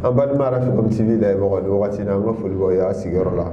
an balima arafikom tv lajɛ mɔgɔ ni wagati na an ka foli b'aw y'a sigiyɔrɔ la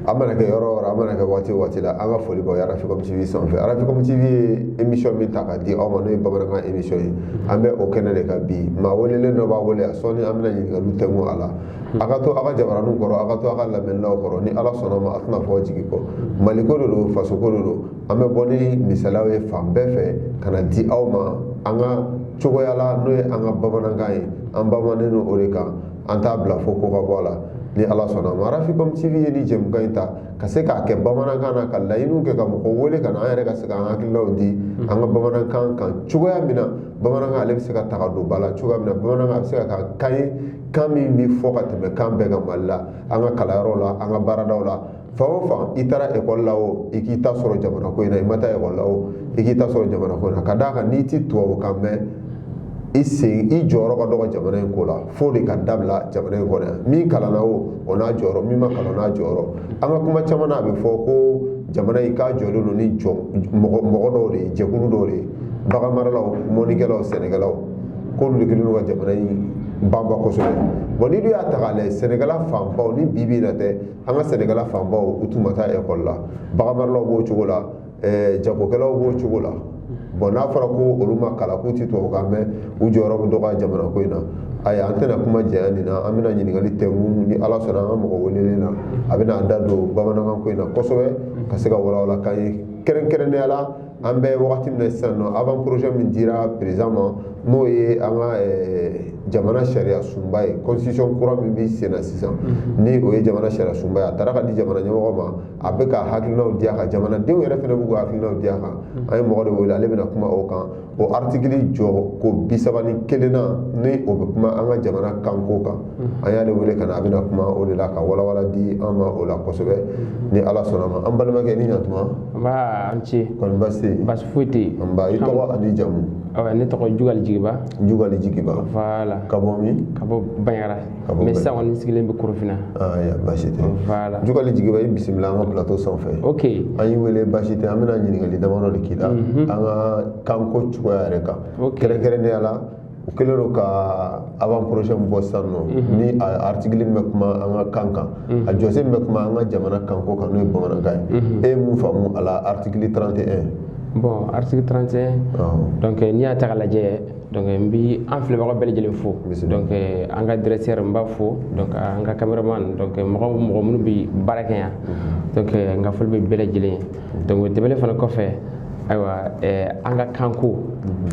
a mana kɛ yɔrɔ o yɔrɔ a mana kɛ waati o waati la an ka foli b'aw ye arafikom tv sanfɛ arafikom tv ye émission min ta ka di aw ma n'o ye bamanankan émission ye an bɛ o kɛnɛ de kan bi maa welelen dɔ b'a wele a sɔɔni an bɛna ɲininkaliw tɛngu a la a ka to a ka jabaraninw kɔrɔ a ka to a ka lamɛnlaw kɔrɔ ni ala sɔnna ma a tɛna fɔ jigi kɔ mali ko de don faso ko de don an bɛ bɔ ni misaliyaw ye fan bɛɛ fɛ ka na di aw ma an ka cogoya la n'o ye an ka bamanankan ye an banbanen don o de kan an t'a bila fo ko ka bɔ a la ni ala sɔnna ma arafikom tv ye ni jɛmukan in ta ka se k'a kɛ bamanankan na ka laɲiniw kɛ ka mɔgɔ wele ka na an yɛrɛ ka se k'an hakililaw di an ka bamanankan kan cogoya min na bamanankan ale bɛ se ka taga don ba la cogoya min na bamanankan a bɛ se ka kɛ kan ye kan min bɛ fɔ ka tɛmɛ kan bɛɛ kan mali la an ka kalanyɔrɔw la an ka baaradaw la fan o fan i taara ekɔli la o i k'i ta sɔrɔ jamana ko in na i ma taa ekɔli la o i k'i ta sɔrɔ jamana ko in na ka d'a kan n'i ti tubabukan mɛn i sen i jɔyɔrɔ ka dɔgɔ jamana in ko la f'o de ka dabila jamana in kɔnɔ yan min kalanna o o n'a jɔyɔrɔ min ma kalan n'a jɔyɔrɔ an ka kuma caman na a bɛ fɔ ko jamana in k'a jɔlen don ni jɔ mɔgɔ dɔw de ye jɛkulu dɔw de ye baganmaralaw mɔnikɛlaw sɛnɛkɛlaw k'olu de kɛlen don ka jamana in banba kosɛbɛ bon n'i dun y'a ta k'a lajɛ sɛnɛkɛla fanbaw ni bi bi in na tɛ an ka sɛnɛkɛla fanbaw u tun ma taa ekɔli la baganmaralaw b'o cogo la eh, jagokɛlaw b'o cogo la bon n'a fɔra ko olu ma kalan k'u ti tubabukan mɛn u jɔyɔrɔ bɛ dɔgɔya jamana ko in na ayi an tɛna kuma janya nin na an bɛna ɲininkali tɛngu ni ala sɔnna an ka mɔgɔ welelen na a bɛna an da don bamanankan ko in na kosɛbɛ ka se ka walawala k'an ye kɛrɛnkɛrɛnnenya la an bɛ wagati min na sisan nɔ avant projet min dira président ma n'o ye an ka eh, jamana sariya sunba ye constitution kura min bɛ sen na sisan mhm. ni o ye jamana sariya sunba ye a taara ka di jamana ɲɛmɔgɔ ma a bɛ ka hakilinaw di a kan jamanadenw yɛrɛ fana b'u ka hakilinaw di a kan mhm. an ye mɔgɔ de wele ale bɛna kuma o kan o artikili jɔ ko bi saba ni kelennan ni o bɛ kuma an ka jamana kanko kan Mm-hmm. an y'ale wele ka na a bɛna kuma o de la ka walawala di an ma o la kosɛbɛ mm-hmm. ni ala sɔnna ma an balimakɛ ni ɲatuma an ce kɔni basi tɛ basi foyi tɛ yen nba i tɔgɔ ani jamu ne tɔgɔ jugali jigiba jugali jigiba voilà ka bɔ min ka bɔ banjagara mais sisan kɔni sigilen bɛ korofina yan basi tɛ voilà jugali jigiba i bisimila an ka plateau sanfɛ ok an y'i wele basi tɛ an bɛna ɲininkali damadɔ de k'i la mm-hmm. an ka kanko cogoya yɛrɛ kan kɛrɛnkɛrɛnnenya la u kɛlen don ka avant projet min bɔ sisan nɔ mhm. ni article min bɛ kuma an ka kan kan mhm. a jɔsen min bɛ kuma an ka jamana kanko kan n'o ye bamanankan ye mhm. e ye mun faamu a la article 31 bon article 31 donc eh, n'i y'a ta k'a lajɛ donc eh, n bi an filɛbagaw bɛɛ lajɛlen fo donc eh, an ka directeur n b'a fo donc an ka cameraman donc mɔgɔ mɔgɔ minnu bɛ baara kɛ yan donc n ka foli bɛ bɛɛ lajɛlen ye donc o tɛmɛnen fana kɔfɛ ayiwa eh, an ka kanko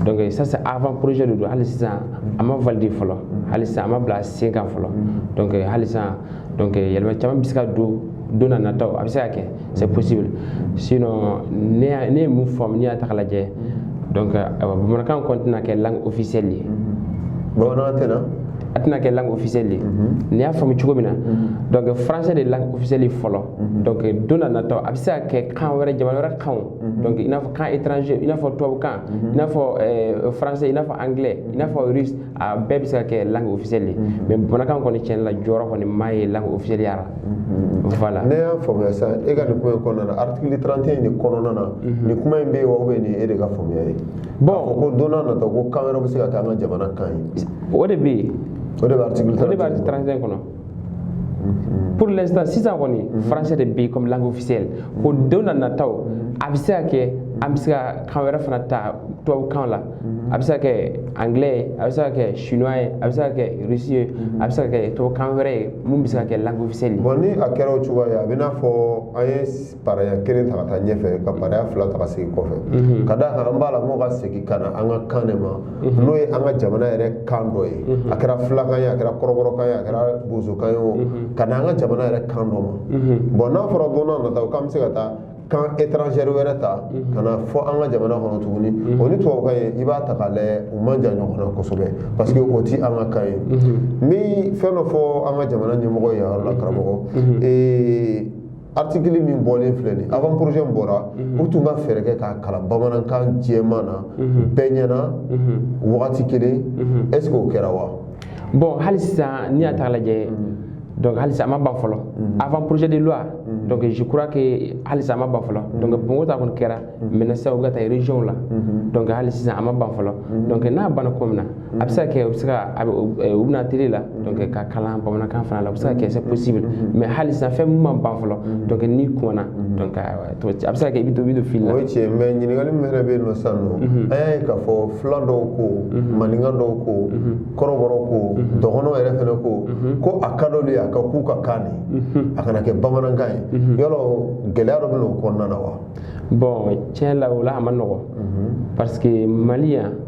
donc ça c'est avant projet de don hali sisan a ma valider fɔlɔ hali sisan a ma bila sen kan fɔlɔ donc hali sisan donc yɛlɛma caman bɛ se ka don don na nataw a bɛ se ka kɛ c'est possible sinon ne y'a- ne ye mun faamu n'i y'a ta k'a lajɛ donc ayiwa bamanankan kɔni tɛna kɛ langue officielle ye bamanankan tɛna a tɛna kɛ langue officielle ye n'i y'a faamu cogo min na donc français de ye langue officielle ye fɔlɔ Mhm. donc don na nataw a bɛ se ka kɛ kan wɛrɛ jamana wɛrɛ kanw mhm. donc i n'a fɔ kan étranger i n'a fɔ tubabukan mhm. i n'a fɔ euh, français i n'a fɔ anglais i n'a fɔ russe a bɛɛ bɛ se ka kɛ langue officielle ye mais bamanankan kɔni tiɲɛ la jɔyɔrɔ kɔni ma ye langue officielle ya la voilà ne y'a faamuya sisan e ka nin kuma in kɔnɔna na article 31 nin kɔnɔna na nin kuma in bɛ yen wa ou bien nin ye e de ka faamuya ye bon k'a fɔ ko don na nataw ko kan wɛrɛw bɛ se ka kɛ an ka jamana kan ye o de bɛ yen o de bɛ article 31 kɔnɔ pour l'instant sisan kɔni mhm. français de bɛ comme langue officielle mhm. ko don na nataw mhm. a bɛ se ka kɛ an bɛ se ka kan wɛrɛ fana ta tubabukan la a bɛ se ka kɛ anglais ye a bɛ se ka kɛ chinois ye a bɛ se ka kɛ russe ye a bɛ se ka kɛ tubabukan wɛrɛ ye min bɛ se ka kɛ langue officielle ye. bon ni a kɛra o cogoya ye a bɛ n'a fɔ an ye paraya kelen ta ka taa ɲɛfɛ ka paraya fila ta ka segin kɔfɛ mhm. ka d'a kan an b'a la mɔgɔ ka segin ka na an ka kan de ma mhm. n'o ye an ka jamana yɛrɛ kan dɔ ye mhm. a kɛra filakan ye a kɛra kɔrɔbɔrɔkan ye a kɛra bozokan ye o ka na an ka jamana yɛrɛ kan dɔ ma bon n'a fɔra don na nataw k'an bɛ se ka taa kan étranger wɛrɛ ta ka na fɔ an ka jamana kɔnɔ tuguni o ni tubabukan ye i b'a ta k'a lajɛ u man jan ɲɔgɔn na kosɛbɛ parce que o ti an ka kan ye n bɛ fɛn dɔ fɔ an ka jamana ɲɛmɔgɔ ye yɔrɔ la karamɔgɔ article min bɔlen filɛ nin avant projet min bɔra mhm. u tun ka fɛɛrɛ kɛ k'a kalan bamanankan jɛman na mhm. bɛɛ ɲɛna mhm. wagati kelen est ce que o kɛra wa bon hali sisan n'i y'a ta k'a lajɛ donc halisa a ma ban fɔlɔ avant projet de loi donc je crois que halisa a ma ban fɔlɔ donc bamakɔ ta kɔni kɛra maintenant sisan u bɛ ka taa région la donc hali sisan a ma ban fɔlɔ donc n'a banna ko min na Mm-hmm. a bɛ se ka kɛ u bɛ se ka a bɛ u bɛ na tele la mm-hmm. donc k'a kalan bamanankan fana la o bɛ se ka kɛ c'est possible mm-hmm. mais hali sisan fɛn min ma ban fɔlɔ donc n'i kumana donc a bɛ se ka kɛ i bɛ to i bɛ to fili la. o ye tiɲɛ mais ɲininkali min yɛrɛ bɛ yen nɔ sisan nɔ an y'a ye k'a fɔ fila dɔw ko maninka dɔw ko kɔrɔbɔrɔ ko dɔgɔnɔw yɛrɛ fana ko ko a ka d'olu ye a ka k'u ka kan de a kana kɛ bamanankan ye yala gɛlɛya dɔ bɛ n'o kɔnɔna na wa. bon tiɲɛ la o la a ma nɔgɔn parce que mali yan.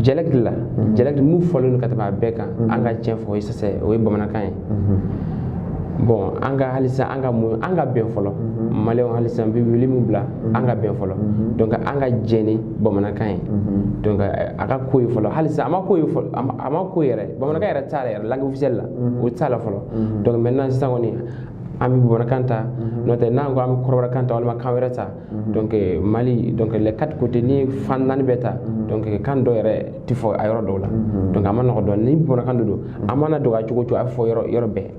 dialecte la dialecte mun fɔlen don ka tɛmɛ a bɛɛ kan an ka tiɲɛ fɔ o ye ça c'est o ye bamanankan ye bon an ka halisa an ka mun an ka bɛn fɔlɔ maliyɛnw halisa n bɛ wuli min bila an ka bɛn fɔlɔ donc an ka jɛn ni bamanankan ye donc a ka k'o ye fɔlɔ halisa a ma k'o ye fɔlɔ a ma k'o ye yɛrɛ bamanankan yɛrɛ t'a la yɛrɛ langue officielle la o t'a la fɔlɔ donc maintenant sisan kɔni an bɛ bamanankan ta n'o tɛ n'an ko an bɛ kɔrɔbɔrɔkan ta walima kan wɛrɛ ta Mhm. donc euh, mali donc les quatre côtés ni fan naani bɛɛ ta mhm. donc euh, kan dɔ yɛrɛ ti fɔ a yɔrɔ dɔw la mhm. donc a man nɔgɔ dɔɔni ni bamanankan de don a mana dɔgɔya cogo cogo a bɛ fɔ yɔrɔ yɔrɔ bɛɛ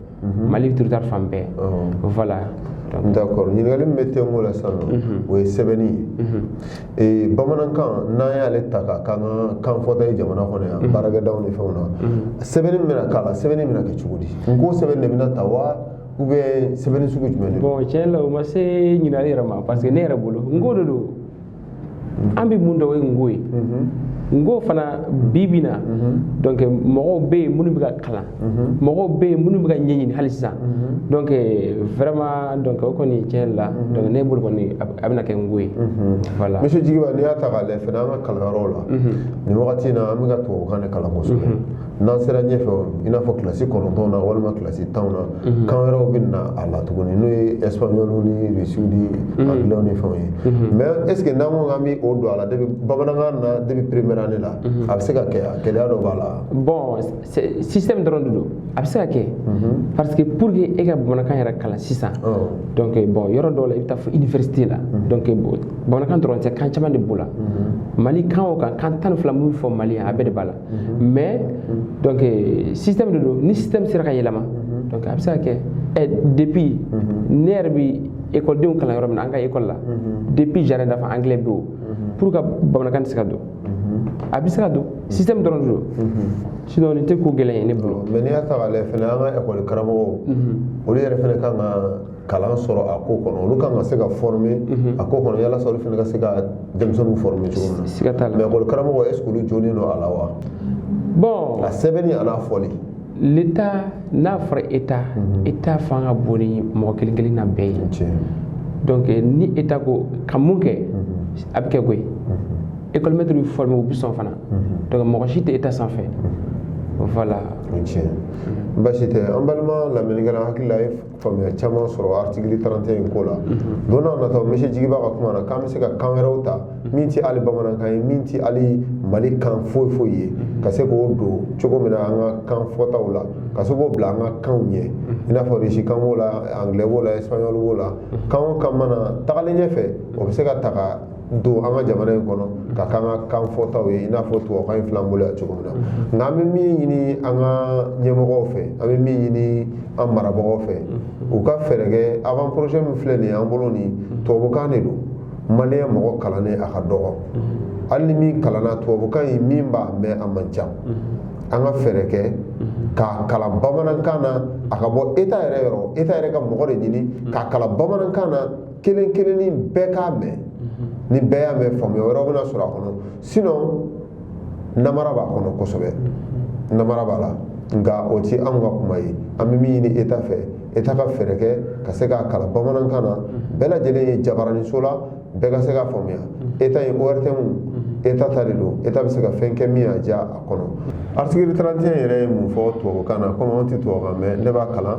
mali territoire fan bɛɛ oh. voilà d'accord ɲininkali min bɛ tɛnko la sisan o ye sɛbɛnni ye bamanankan n'an y'ale ta ka k'an ka kan fɔta ye jamana kɔnɔ yan baarakɛdaw ni fɛnw na sɛbɛnni bɛna k'a la sɛbɛnni bɛna kɛ cogo di nko sɛbɛnni de bɛna ta wa ou bien sɛbɛnni sugu jumɛn de bon tiɲɛ la o ma se ɲininkali yɛrɛ ma parce que ne yɛrɛ bolo nko de don an bɛ mun dɔn o ye nko ye nko fana bi bi na donc mɔgɔw bɛ yen minnu bɛ k'a kalan mɔgɔw bɛ yen minnu bɛ k'a ɲɛɲini hali sisan donc vraiment donc o kɔni tiɲɛ la donc ne bolo kɔni a bɛna kɛ nko ye voilà monsieur jigiba n'i y'a ta k'a lajɛ fana an ka kalanyɔrɔw la nin wagati in na an bɛ ka tubabukan de kalan kosɛbɛ n'an sera ɲɛfɛ i n'a fɔ kilasi kɔnɔntɔn na walima kilasi tan na mhm. kan wɛrɛw bɛ na a la tuguni n'o ye espagnol ni russe ni mhm. anglais ni fɛnw ye mhm. mais est ce que n'an ko k'an bɛ o don a la depuis bamanankan na depuis première année la a bɛ se ka kɛ a gɛlɛya dɔ b'a la. bon système dɔrɔn de don a bɛ se ka kɛ parce que pour que e ka bamanankan yɛrɛ kalan sisan oh. donc eh, bon yɔrɔ dɔw la i bɛ taa fo université la donc eh, bamanankan dɔrɔn tɛ kan caman de b'o la mali kan o kan kan tan ni fila min bɛ fɔ mali yan a bɛɛ de b'a la. Mhm. mais mhm. donc euh, système de don ni système sera ka yɛlɛma mhm. donc a bɛ se ka kɛ ɛ depuis ne yɛrɛ bi ekɔlidenw kalan yɔrɔ min na an ka ekɔli la depuis jardin d'enfants anglais bɛ o pourquoi bamanankan tɛ se ka don a bɛ se ka don système dɔrɔn de don sinon nin tɛ ko gɛlɛn ye ne bolo. mais n'i y'a ta k'a lajɛ fana an ka ekɔli karamɔgɔw olu yɛrɛ fana kan ka kalan sɔrɔ a ko kɔnɔ olu kan ka se ka former a ko kɔnɔ yalasa olu fana ka se ka denmisɛnninw former cogo min na siga t'a la mais école karamɔgɔ est ce que olu jonnen don a la wa bon a sɛbɛnni an'a fɔli l'état n'a fɔra état état fanga ka bon ni mɔgɔ kelen kelen na bɛɛ ye tiɲɛ donc eh, ni état ko ka mun kɛ a bɛ kɛ koyi école maître bɛ former u bɛ sɔn fana donc mɔgɔ si tɛ état sanfɛ voilà o tiɲɛ basi tɛ an balima lamɛnnikɛlaw hakili la aw ye faamuya caman sɔrɔ artikili 31 in ko la mhm. donc n'an y'a ta monsieur jigiba ka kuma na k'an bɛ se ka kan wɛrɛw ta mhm. min tɛ hali bamanankan ye min tɛ hali mali kan foyi foyi ye mhm. ka se k'o don cogo min na an ka kan fɔtaw la ka se k'o bila an ka kanw ɲɛ i n'a fɔ risikan b'o la anglais b'o la espagnol b'o la kan o kan mana tagalen ɲɛfɛ o bɛ se ka ta ka don an ka jamana in kɔnɔ ka k'an ka kan fɔtaw ye i n'a fɔ tubabukan in fil'an bolo yan cogo min na nka an bɛ min ɲini an ka ɲɛmɔgɔw fɛ an bɛ min ɲini an marabagaw fɛ u ka fɛɛrɛ kɛ avant projet min filɛ nin ye an bolo nin tubabukan de don maliyɛn mɔgɔ kalannen a ka dɔgɔ hali ni min kalanna tubabukan in min b'a mɛn a man ca an ka fɛɛrɛ kɛ k'a kalan bamanankan na a ka bɔ eta yɛrɛ yɔrɔ eta yɛrɛ ka mɔgɔ de ɲini k'a kalan bamanankan na kelen kelenni bɛɛ k'a mɛn ni bɛɛ y'a mɛn faamuya wɛrɛ bɛna sɔrɔ a kɔnɔ sinon namara b'a kɔnɔ kosɛbɛ namara b'a la nka o ti anw ka kuma ye an bɛ min ɲini eta fɛ eta ka fɛɛrɛ kɛ ka se k'a kalan bamanankan na bɛɛ lajɛlen ye jabaraniso la bɛɛ ka se k'a faamuya eta ye ortm eta ta de don eta bɛ se ka fɛn kɛ min y'a diya a kɔnɔ article 31 yɛrɛ ye mun fɔ tubabukan na komi anw tɛ tubabukan mɛn ne b'a kalan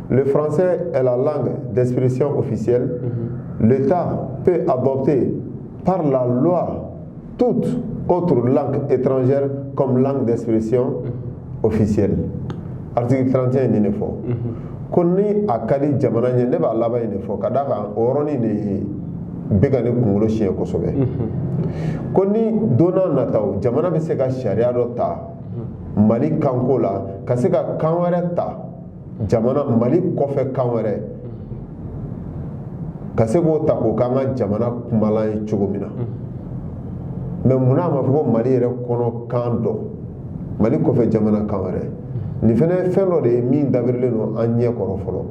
Le français est la langue d'expression officielle. Mm -hmm. L'État peut adopter par la loi toute autre langue étrangère comme langue d'expression mm -hmm. officielle. Article 31 nin de fɔ. Mm -hmm. ko ni a ka di jamana ɲɛ ne b'a laban in de fɔ ka d'a kan o yɔrɔnin de bɛ ka ne kunkolo siɲɛ kosɛbɛ ko ni don na nataw jamana bɛ se ka sariya dɔ ta mali kanko la ka se ka kan wɛrɛ ta jamana mali kɔfɛ kan wɛrɛ ka se k'o ta k'o k'an ka jamana kumalan ye cogo min na mais munna a ma fɔ ko mali yɛrɛ kɔnɔ kan dɔ mali kɔfɛ jamana kan wɛrɛ nin fana ye fɛn dɔ de ye min dabirilen don an ɲɛ kɔrɔ fɔlɔ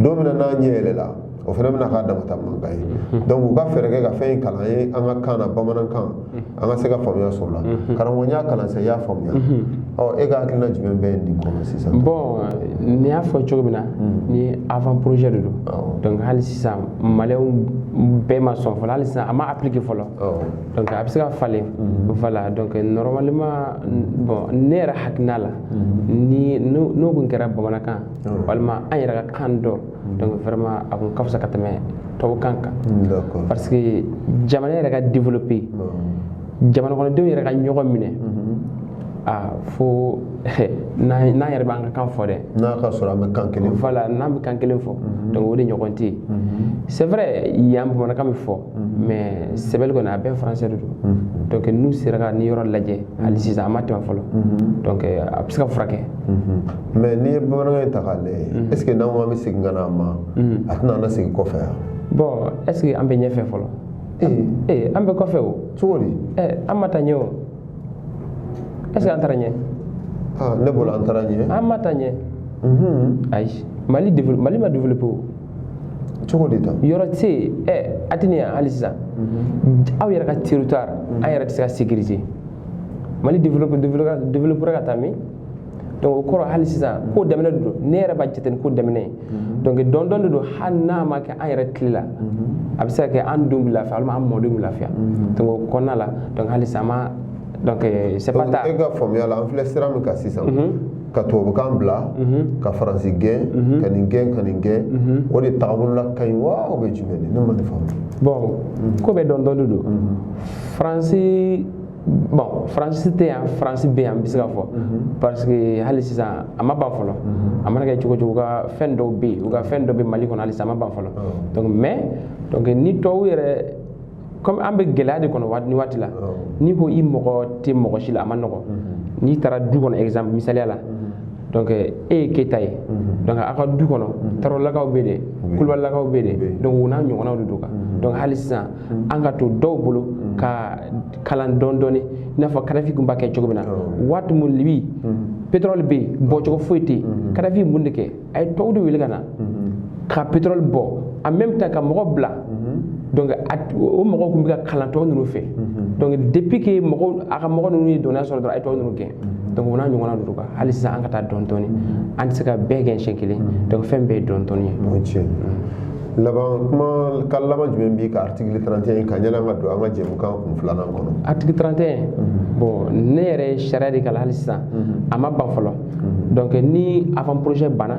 don min na n'an ɲɛ yɛlɛla o fana bɛna k'a dama ta mankan ye mhm. donc u ka fɛɛrɛ kɛ ka fɛn in kalan an ye an ka kan na bamanankan mhm. an ka se ka faamuya sɔrɔ a la mhm. karamɔgɔ n y'a kalan sisan i y'a faamuya ɔ e ka hakilina jumɛn bɛ nin kɔnɔ sisan bon n y'a fɔ cogo min na nin avant projet de don donc hali sisan maliyɛnw bɛɛ ma sɔn fɔlɔ hali sisan a ma appliquer fɔlɔ donc a bɛ se ka falen voilà donc normalement bon ne yɛrɛ hakilina la ni n'o kun kɛra bamanankan walima an yɛrɛ ka kan dɔ Mm. donc vraiment a kun ka fisa ka tɛmɛ tubabukan kan parce que jamana yɛrɛ ka développer mm. jamana kɔnɔdenw yɛrɛ ka ɲɔgɔn minɛ mm-hmm. a ah, fo n'an yɛrɛ b'an ka kan fɔ dɛ n'a ka sɔrɔ an bɛ kan kelen fɔ voilà n'an bɛ kan kelen fɔ mm-hmm. donc o de ɲɔgɔn tɛ yen mm-hmm. c'est vrai yan bamanankan bɛ fɔ mhm. mais sɛbɛli kɔni a bɛɛ français de don mhm. donc n'u sera ka nin yɔrɔ lajɛ mhm. hali sisan a ma tɛmɛ fɔlɔ donc a bɛ se ka furakɛ mais n'i ye bamanankan in ta k'a lajɛ est ce que n'an ko an bɛ segin ka na a ma a tɛna an lasegin kɔfɛ wa bon est ce que an bɛ ɲɛfɛ fɔlɔ ee eh, eh, an bɛ kɔfɛ o cogo di eh, an ma taa ɲɛ o est ce que an taara ɲɛ ah, ne bolo an taara ɲɛ an ma taa ɲɛ mhm. ayi mali mali ma développé o cogo de ta yɔrɔ tɛ yen ɛ a tɛ nin yan hali sisan mhm. aw yɛrɛ ka territoire an yɛrɛ tɛ se ka sécuriser mali développera ka taa min donc o kɔrɔ hali sisan ko daminɛ de don ne yɛrɛ b'a jate nin ko daminɛ ye mhm. donc dɔɔni dɔɔni de don hali n'a ma kɛ an yɛrɛ tile la mhm. a bɛ se ka kɛ an denw bɛ lafiya walima an mɔdenw bɛ lafiya mhm. donc o kɔnɔna la donc hali sisan an ma donc euh, c'est pas tard e ka faamuya la an filɛ sira min kan sisan ka tubabukan bila ka faransi gɛn ka nin gɛn ka nin gɛn o de tagabolola ka ɲi wa o bɛ jumɛn de ne ma nin faamu bon ko bɛɛ dɔɔni dɔɔni de don faransi bon faransi tɛ yan faransi bɛ yan n bɛ se ka fɔ parce que hali sisan a ma ban fɔlɔ a mana kɛ cogo o cogo u ka fɛn dɔw bɛ yen u ka fɛn dɔ bɛ mali kɔnɔ halisa a ma ban fɔlɔ donc mais donc ni tubabu yɛrɛ comme an bɛ gɛlɛya de kɔnɔ nin waati la n'i ko i mago tɛ mɔgɔ si la a ma nɔgɔ n'i taara du kɔnɔ exemple misaliya la donc e ye keyita ye donc aw ka du kɔnɔ tarawelelakaw bɛ de kulubalilakaw bɛ de donc o n'a ɲɔgɔnnaw de don kan donc hali sisan an ka to dɔw bolo ka kalan dɔɔni dɔɔni i n'a fɔ kadafi kun b'a kɛ cogo min na waati min libi pétrole bɛ yen bɔcogo foyi tɛ yen kadafi ye mun de kɛ a ye tɔw de wele ka na ka pétrole bɔ en même temps ka mɔgɔ bila donc o mɔgɔw kun bɛ ka kalan tɔw ninnu fɛ donc depuis que mɔgɔw a ka mɔgɔ ninnu ye dɔnniya sɔrɔ dɔrɔn a ye tɔw ninnu gɛn donc o n'a ɲɔgɔnna ninnu kan hali sisan an ka taa dɔɔni dɔɔni an tɛ se ka bɛɛ gɛn siɲɛ kelen donc fɛn bɛɛ ye dɔɔni dɔɔni ye. laban kuma ka laban jumɛn b'i ka article 31 in kan yanni an ka don an ka jɛmukan kun filanan kɔnɔ article 31 mhm. bon ne yɛrɛ ye sariya de kalan hali sisan mhm. a ma ban fɔlɔ mhm. donc ni avant projet banna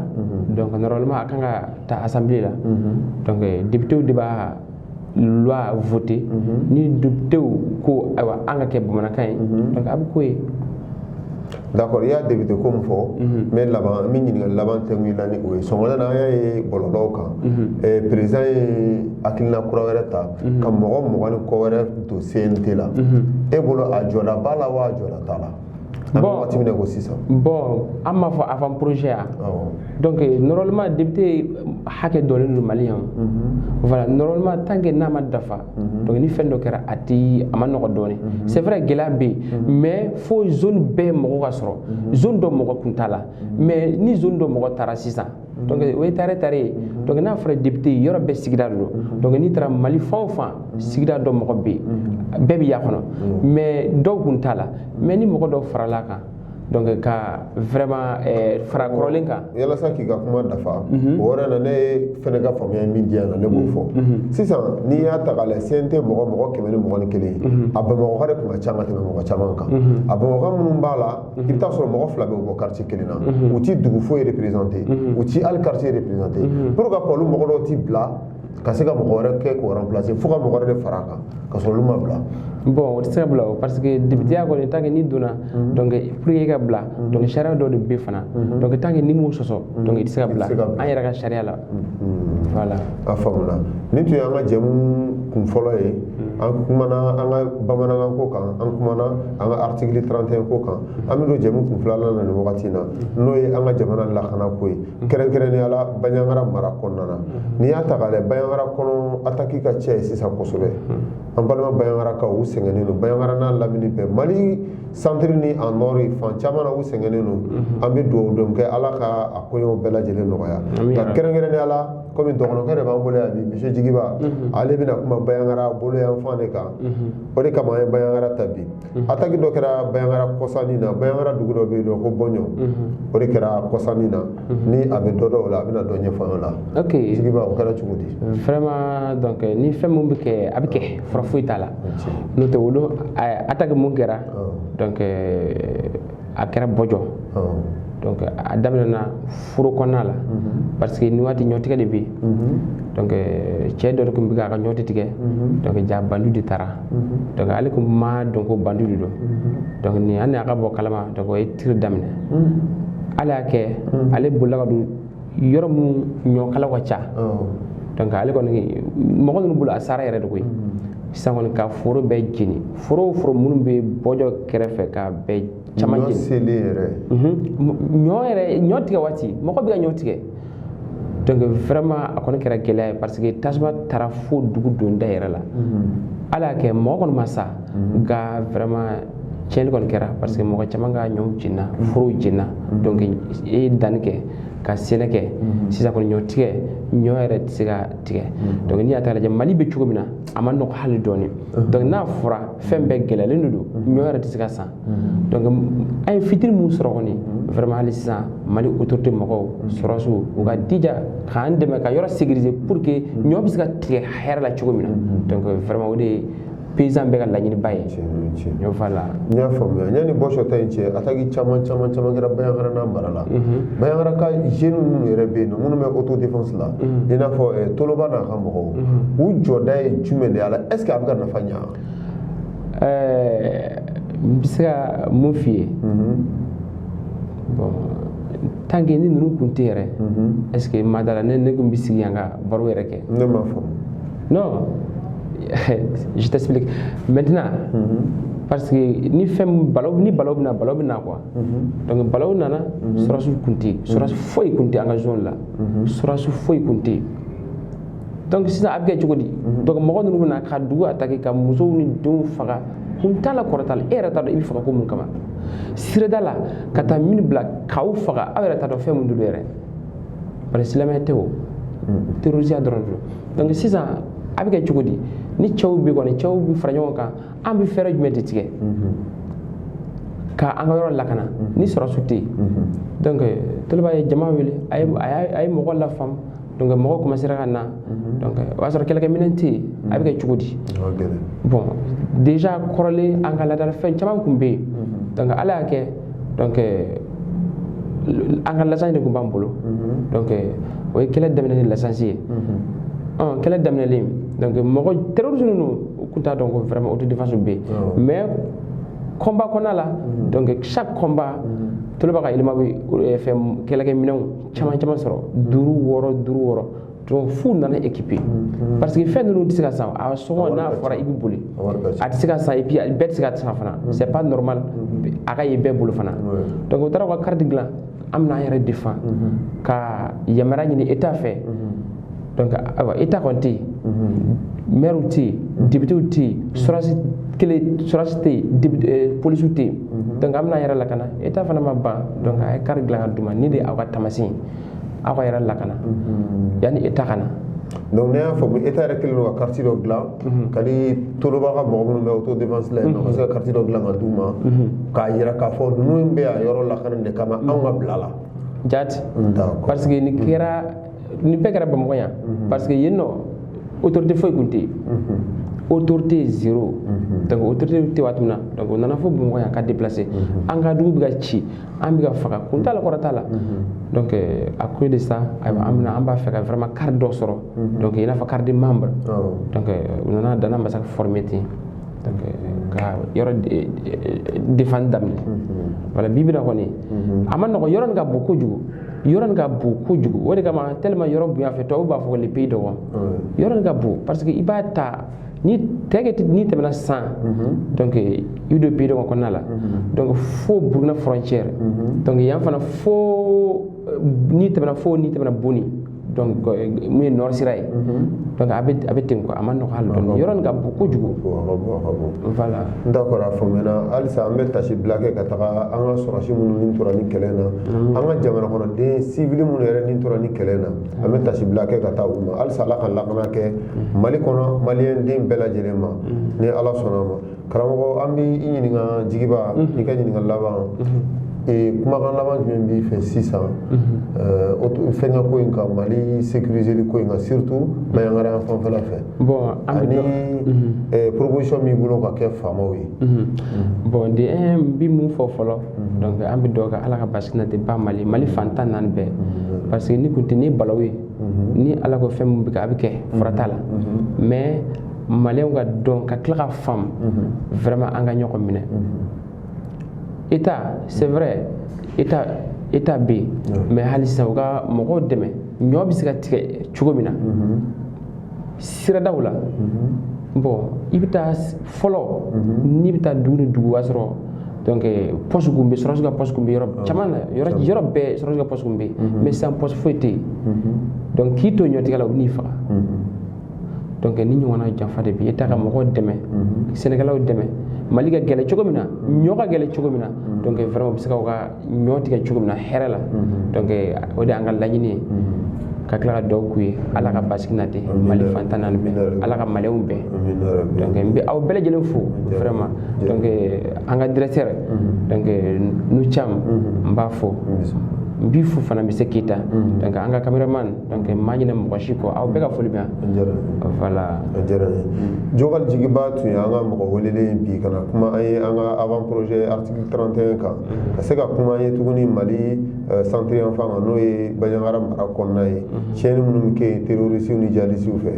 donc normalement a kan ka taa assemblée la donc députéw de b'a loi voter ni députéw ko ayiwa an ka kɛ bamanankan ye donc a bɛ k'o ye d'accord i y'a député ko min fɔ n bɛ laban n bɛ ɲininkali laban kɛ min na ni o ye sɔgɔma na an y'a ye bɔlɔlɔw kan président ye hakilina kura wɛrɛ ta ka mɔgɔ mugan ni kɔ wɛrɛ don cnt la e bolo a jɔda b'a la wa a jɔda t'a la an bɛ waati min na i ko sisan bon an m'a fɔ avant projet ya donc normalement député hakɛ dɔnnen don mali yan voilà normalement tant que n'a ma dafa Mhm. donc ni fɛn dɔ kɛra a ti a ma nɔgɔ dɔɔni mhm. c'est vrai gɛlɛya bɛ yen mhm. mais fo zone bɛɛ mɔgɔ ka sɔrɔ zone dɔ mɔgɔ kun t'a la mais ni zone dɔ mɔgɔ taara sisan donc o ye tare tare ye donc n'a fɔra député yɔrɔ bɛɛ sigida de don donc n'i taara mali fan o fan sigida dɔ mɔgɔ bɛ yen bɛɛ bɛ y'a kɔnɔ mais dɔw kun t'a la mais ni mɔgɔ dɔw farala kan donc ka vraiment eh, fara kɔrɔlen kan yalasa k'i ka kuma dafa mhm. o yɔrɔ la ne fɛnɛ ka faamuya min diya na ne b'o mhm. fɔ mhm. sisan n'i y'a ta k'a lajɛ CNT mɔgɔ mɔgɔ kɛmɛ ni mugan ni kelen a bamakɔka de tun ka ca ka tɛmɛ mɔgɔ caman kan a bamakɔka minnu b'a la i bɛ taa sɔrɔ mɔgɔ fila bɛ bɔ quartier kelen na u ti dugu foyi représenter u ti hali quartier représenter pour que olu mɔgɔ dɔw ti bila ka se ka mɔgɔ wɛrɛ kɛ k'o remplacer fo ka mɔgɔ wɛrɛ de fara a kan ka sɔrɔ olu ma bila bon o tɛ se ka bila o parce que députéya kɔni tant que n'i donna mhm. donc pour que i ka bila mhm. donc sariya dɔ de bɛ fana mhm. donc tant que n'i m'o sɔsɔ donc i tɛ se ka bila an yɛrɛ ka sariya la voilà a faamuna nin tun y'an ka jɛmu kun fɔlɔ ye an kumana an ka bamanankan ko kan an kumana an ka article 31 ko kan an bɛ don jɛmu kun filanan na nin wagati in na n'o ye an ka jamana lakana ko ye kɛrɛnkɛrɛnnenya la baɲangara mara kɔnɔna na n'i y'a ta k'a lajɛ baɲangara kɔnɔ ataki ka ca yen sisan kosɛbɛ an balima baɲangarakaw sɛgɛnnen don baɲangara n'a lamini bɛɛ mali santiri ni a nɔri fan caman na u sɛgɛnnen don an bɛ dugawu don kɛ ala ka a koɲɛw bɛɛ lajɛlen nɔgɔya nka kɛrɛnkɛrɛnnenya la kɔmi dɔgɔnɔkɛ de b'an bolo yan bi monsieur jigiba ale bɛna kuma baɲangara bolo yan fan de kan o de kama an ye baɲangara ta bi ataki dɔ kɛra baɲangara kɔsa nin na baɲangara dugu dɔ bɛ yen nɔ ko bɔɲɔ o de kɛra kɔsa nin na ni a bɛ dɔ dɔn o la a bɛna dɔ ɲɛfɔ an la ok jigiba o kɛra cogo di vraiment donc ni fɛn min bɛ kɛ a bɛ kɛ fura foyi t'a la n'o tɛ olu ataki min kɛra donc a kɛra bɔjɔ donc a daminɛna foro kɔnɔna la mhm. parce que nin waati ɲɔtigɛ de bɛ yen mhm. donc euh, cɛ dɔ de tun bɛ k'a ka ɲɔti tigɛ mhm. donc ja bandiw de taara donc ale tun ma dɔn ko bandiw de don donc ni ale ka bɔ a kalama donc u ye tiri daminɛ ala y'a kɛ ale bolila ka don yɔrɔ minnu ɲɔkalaw ka ca donc ale kɔni mɔgɔ ninnu bolo a sara yɛrɛ de koyi sisan kɔni ka foro bɛɛ jeni foro o foro minnu bɛ bɔjɔ kɛrɛfɛ ka bɛɛ caman jeni ɲɔ selen yɛrɛ ɲɔ yɛrɛ ɲɔ tigɛ waati mɔgɔ bɛ ka ɲɔ tigɛ donc vraiment a kɔni kɛra gɛlɛya ye parce que tasuma taara fo dugu donda yɛrɛ la ala y'a kɛ mɔgɔ kɔni ma sa nka vraiment tiɲɛni kɔni kɛra parce que mɔgɔ caman ka ɲɔw jenina forow jenina donc e ye danni kɛ ka sɛnɛ kɛ sisan kɔni ɲɔ tigɛ ɲɔ yɛrɛ tɛ se ka tigɛ donc n'i y'a ta lajɛ mali bɛ cogo min na a ma nɔgɔ hali dɔɔni donc n'a fɔra fɛn bɛɛ gɛlɛyalen de don ɲɔ yɛrɛ tɛ se ka san donc an ye fitinin min sɔrɔ kɔni vraiment hali sisan mali autorité mɔgɔw sɔrɔsiw u ka jija k'an dɛmɛ ka yɔrɔ sécuriser pour que ɲɔ bɛ se ka tigɛ hɛrɛ la cogo min na donc vraiment o de ye paysan bɛɛ ka laɲiniba ye ɲɔ fa la n y'a faamuya yanni bɔsɔ ta in cɛ attaque caman caman caman kɛra bandiagara n'a mara la bandiagara ka jeunes minnu yɛrɛ bɛ yen nɔ minnu bɛ autodéfense la i n'a fɔ eh, toloba n'a ka mɔgɔw u jɔda ye jumɛn de y'a la est ce que a bɛ ka nafa ɲa eh, n bɛ se ka mun f'i ye tant que ni ninnu kun tɛ yɛrɛ est ce que ma da la ne ne kun bɛ sigi yan ka baro yɛrɛ kɛ ne m'a faamu non je t'explique maintenant mm -hmm. parce que ni fɛn balaw ni balaw bɛna balaw bɛna quoi mm -hmm. donc balaw nana mm -hmm. sɔrɔsiw kun tɛ yen sɔrɔsi mhm. foyi kun tɛ an ka zone la mhm. sɔrɔsi foyi kun tɛ yen donc sisan a bɛ kɛ cogo di mhm. donc mɔgɔ ninnu bɛna ka dugu attaquer ka musow ni denw faga kun t'a la kɔrɔ t'a la e yɛrɛ t'a dɔn i bɛ faga ko mun kama sirada la ka taa min bila k'aw faga aw yɛrɛ t'a dɔn fɛn mun de don yɛrɛ parce que silamɛya tɛ o terrorisiya dɔrɔn don donc sisan a bɛ kɛ cogo di ni cɛw bɛ kɔni cɛw bɛ fara ɲɔgɔn kan an bɛ fɛɛrɛ jumɛn de tigɛ ka an ka yɔrɔ lakana mhm. ni sɔrɔsi tɛ yen mhm. donc euh, toloba ye jama wele a ye mɔgɔ lafaamu donc euh, mɔgɔw commencera ka na mhm. donc euh, o y'a sɔrɔ kɛlɛkɛminɛn tɛ yen a bɛ kɛ cogo di bon déjà kɔrɔlen an ka laadala fɛn caman kun bɛ yen donc ala y'a kɛ donc euh, an ka lasansi de kun b'an bolo mm-hmm. donc euh, o ye kɛlɛ daminɛ ni lasansi ye mm-hmm. kɛlɛ daminɛlen donc mɔgɔ terroriste ninnu u kun t'a dɔn ko vraiment autodéfense bɛ yen oh. mais combat kɔnɔna la mm-hmm. donc chaque combat toloba ka éléments bɛ fɛn kɛlɛkɛminɛnw caman caman sɔrɔ duuru wɔɔrɔ duuru wɔɔrɔ donc f'u nana équipé mhm. parce que fɛn ninnu tɛ se ka san a sɔngɔ n'a fɔra i bɛ boli a tɛ se ka san et puis bɛɛ tɛ se ka san fana mhm. c'est pas normal mhm. a ka ye bɛɛ bolo fana donc u taara u ka carte dilan an bɛna an yɛrɛ défendre ka yamaruya ɲini état fɛ donc ayiwa état kɔni tɛ yen maires tɛ yen députés tɛ yen sɔrɔsi kelen sɔrɔsi tɛ yen polisiw tɛ yen donc an bɛna an yɛrɛ lakana état fana ma ban donc a ye carte dilan ka d'u ma nin de aw ka taamasen ye aw ka yɛrɛ lakana yanni état ka na donc ne y'a faamu état yɛrɛ kɛlen don ka carte dɔ dilan ka di toloba ka mɔgɔ minnu bɛ autodéfense la yen nɔ ka se ka carte dɔ dilan ka d'u ma k'a yira k'a fɔ ninnu bɛ yan yɔrɔ lakana de kama anw ka bila la jati d'accord parce que nin kɛra nin bɛɛ kɛra bamakɔ yan parce que yen nɔ autorité foyi kun tɛ yen autorité zéro donc autorité tɛ waati min na donc o nana fo bamakɔ yan ka déplacer an ka dugu bɛ ka ci an bɛ ka faga kun t'a la kɔrɔ t'a la donc euh, à cause de ça ayiwa an bɛna an b'a fɛ ka vraiment carte dɔ sɔrɔ donc i n'a fɔ carte de membre donc euh, u nana dana ambassagou former ten donc euh, ka yɔrɔ défendre daminɛ voilà bi bi na kɔni a ma nɔgɔ yɔrɔ nin ka bon kojugu yɔrɔ nin ka bon kojugu o de kama tellement yɔrɔ bonya fɛ tubabu b'a fɔ ko le pays dogon yɔrɔ nin ka bon parce que i b'a ta ni tɛgɛ n'i tɛmɛna san donc i don pays dogon kɔnɔna la donc fo burkina frontière donc yan fana fo n'i tɛmɛna fo n'i tɛmɛna boni donc min ye nord sira ye donc a bɛ a bɛ ten quoi a man nɔgɔ hali dɔɔni yɔrɔ nin ka bon kojugu voilà d'accord a faamuyana halisa an bɛ tasi bila kɛ ka taga an ka sɔrɔsi minnu ni tora nin kɛlɛ na an ka jamana kɔnɔden sivili minnu yɛrɛ ni tora nin kɛlɛ na an bɛ tasibila kɛ ka taa u ma halisa ala ka lakana kɛ mali kɔnɔ maliyɛn den bɛɛ lajɛlen ma ni ala sɔnna a ma karamɔgɔ an bɛ i ɲininka jigiba i ka ɲininka laban kumakan laban jumɛn b'i fɛ sisan fɛnkɛ ko in kan mali sekirizeli ko in kan surtout baɲangara yan fanfɛla fɛ ani proposition min b'i bolo ka kɛ faamaw ye bon ne bɛ min fɔ fɔlɔ donc an bɛ dugawu kɛ ala ka basigi nati ba mali mali fan tan ni naani bɛɛ parce que ni kun tɛ ni balawu ye ni ala ko fɛn min bɛ kɛ a bɛ kɛ fura t'a la mais maliyɛnw k'a dɔn ka tila k'a faamu vraiment an ka ɲɔgɔn minɛ eta c'est vrai eta eta bɛ yen mais hali sisan u ka mɔgɔw dɛmɛ ɲɔ bɛ se ka tigɛ cogo min na siradaw la bon i bɛ taa fɔlɔ n'i bɛ taa dugu ni dugu i b'a sɔrɔ donc pɔsi kun bɛ sɔrɔsi ka pɔsi kun bɛ yɔrɔ caman na yɔrɔ yɔrɔ bɛɛ sɔrɔsi ka pɔsi kun bɛ yen mais sisan pɔsi foyi tɛ yen donc k'i to ɲɔtigɛ la u bɛ n'i faga donc nin ɲɔgɔnna janfa de bɛ eta ka mɔgɔw dɛmɛ sɛnɛkɛlaw dɛmɛ mali ka gɛlɛ cogo min na ɲɔ ka gɛlɛ cogo min na donc vraiment u bɛ se ka u ka ɲɔ tigɛ cogo min na hɛrɛ la donc o de an ka laɲini ye ka tila ka dugawu k'u ye ala ka basigi nati mali fan tan ni naani bɛɛ ala ka maliyɛnw bɛɛ donc n bɛ aw bɛɛ lajɛlen fo vraiment donc an ka directeur donc nu cam n b'a fo n b'i fo fana monsieur keita donc an ka cameraman donc n ma ɲinɛ mɔgɔ si kɔ aw bɛɛ ka foli bɛ yan voilà a diyara n ye jokali jigiba tun ye an ka mɔgɔ welelen bi ka na kuma an ye an ka avant projet 31 kan ka se ka kuma an ye tuguni mali centre yan fan kan n'o ye baɲangara mara kɔnɔna ye tiɲɛni minnu bɛ kɛ yen terorisiw ni jihadisiw fɛ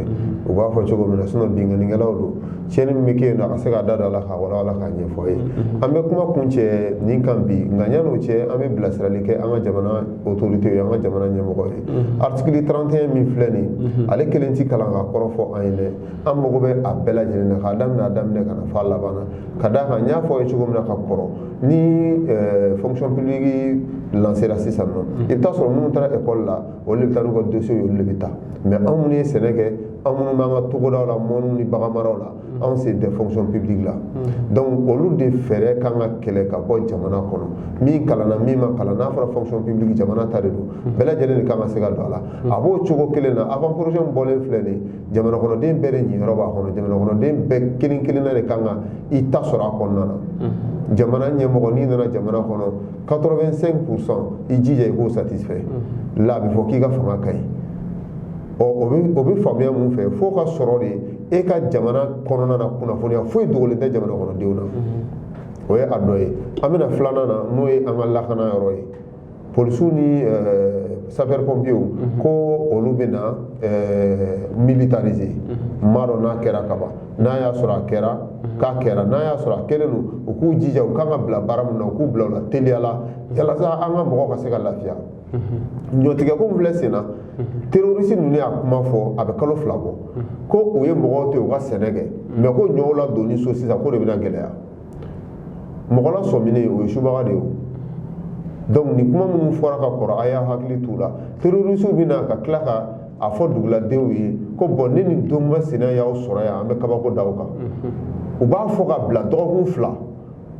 u b'a fɔ cogo min na sinon binkannikɛlaw don tiɲɛni min bɛ kɛ yen nɔ a ka se k'a da don a la k'a walawala k'a ɲɛfɔ an ye an bɛ kuma kuncɛ nin kan bi nka yan'o cɛ an bɛ bilasirali kɛ an ka jamana autorité ye an ka jamana ɲɛmɔgɔ ye article 31 min filɛ nin ale kelen tɛ kalan k'a kɔrɔ fɔ an ye dɛ an mago bɛ a bɛɛ lajɛlen na k'a daminɛ a daminɛ ka na fo a laban na ka d'a kan n y'a fɔ aw ye cogo min na ka kɔrɔ ni eh, fonction publique lancera sisan nɔ mm. i bɛ taa a sɔrɔ minnu taara ekɔli la olu de bɛ taa n'u ka dosiyew ye olu de bɛ taa mais anw minnu ye sɛnɛ kɛ anw minnu b'an ka togodaw la mɔniw ni baganmaraw la mm. anw sen tɛ fonction publique la mm. donc olu de fɛɛrɛ kan ka kɛlɛ ka bɔ jamana kɔnɔ min kalanna min ma kalan n'a fɔra fonction publique jamana ta de don bɛɛ lajɛlen de kan ka se ka don a la a b'o cogo kelen na avant projet min bɔlen filɛ nin ye jamanakɔnɔden bɛɛ de ɲiyɔrɔ b'a kɔnɔ jamanakɔnɔden bɛɛ kelen kelenna de kan ka i ta sɔrɔ a kɔnɔna na mm-hmm. jamana ɲɛmɔgɔ n'i nana jamana kɔnɔ 85 pourcent i jija i k'o satisfait mm-hmm. la a bɛ fɔ k'i ka fanga ka ɲi ɔ o bɛ o bɛ faamuya mun fɛ f'o ka sɔrɔ de e ka jamana kɔnɔna na kunnafoniya foyi dogolen tɛ jamanakɔnɔdenw na mm-hmm. o ye a dɔ ye an bɛna filanan na n'o ye an ka lakana yɔrɔ ye polisiw ni sapeur pompiers ko olu bɛna militariser n m'a dɔn n'a kɛra kaban n'a y'a sɔrɔ a kɛra k'a kɛra n'a y'a sɔrɔ a kɛlen don u k'u jija u kan ka bila baara min na u k'u bila o la teliya la yalasa an ka mɔgɔw ka se ka lafiya ɲɔtigɛko min filɛ senna terorisi ninnu y'a kuma fɔ a bɛ kalo fila bɔ ko u ye mɔgɔw to yen u ka sɛnɛ kɛ mais ko ɲɔw ladonni so sisan ko de bɛna gɛlɛya mɔgɔ lasɔminen o ye subaga de ye donc nin kuma minnu fɔra ka kɔrɔ a y'a hakili t'u la terorisiw bɛ na ka tila ka a fɔ duguladenw ye ko bon ne ni don masina y'aw sɔrɔ yan an bɛ kabako da aw kan u b'a fɔ ka bila dɔgɔkun fila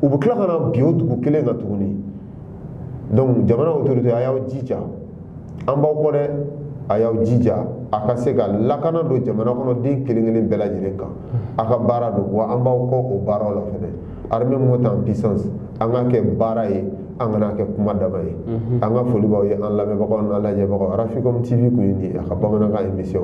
u bɛ tila ka na bin o dugu kelen kan tuguni donc jamana autorité a y'aw jija an b'aw kɔ dɛ a y'aw jija a ka se ka lakana don jamanakɔnɔden kelen kelen bɛɛ lajɛlen kan a ka baara don wa an b'aw kɔ o baaraw la fɛnɛ armée monte en puissance an k'a kɛ baara ye a kana kɛ kuma dama ye an ka foli b'aw ye an lamɛnbagaw n'an lajɛbagaw africom tv kun ye nin ye a ka bamanankan émission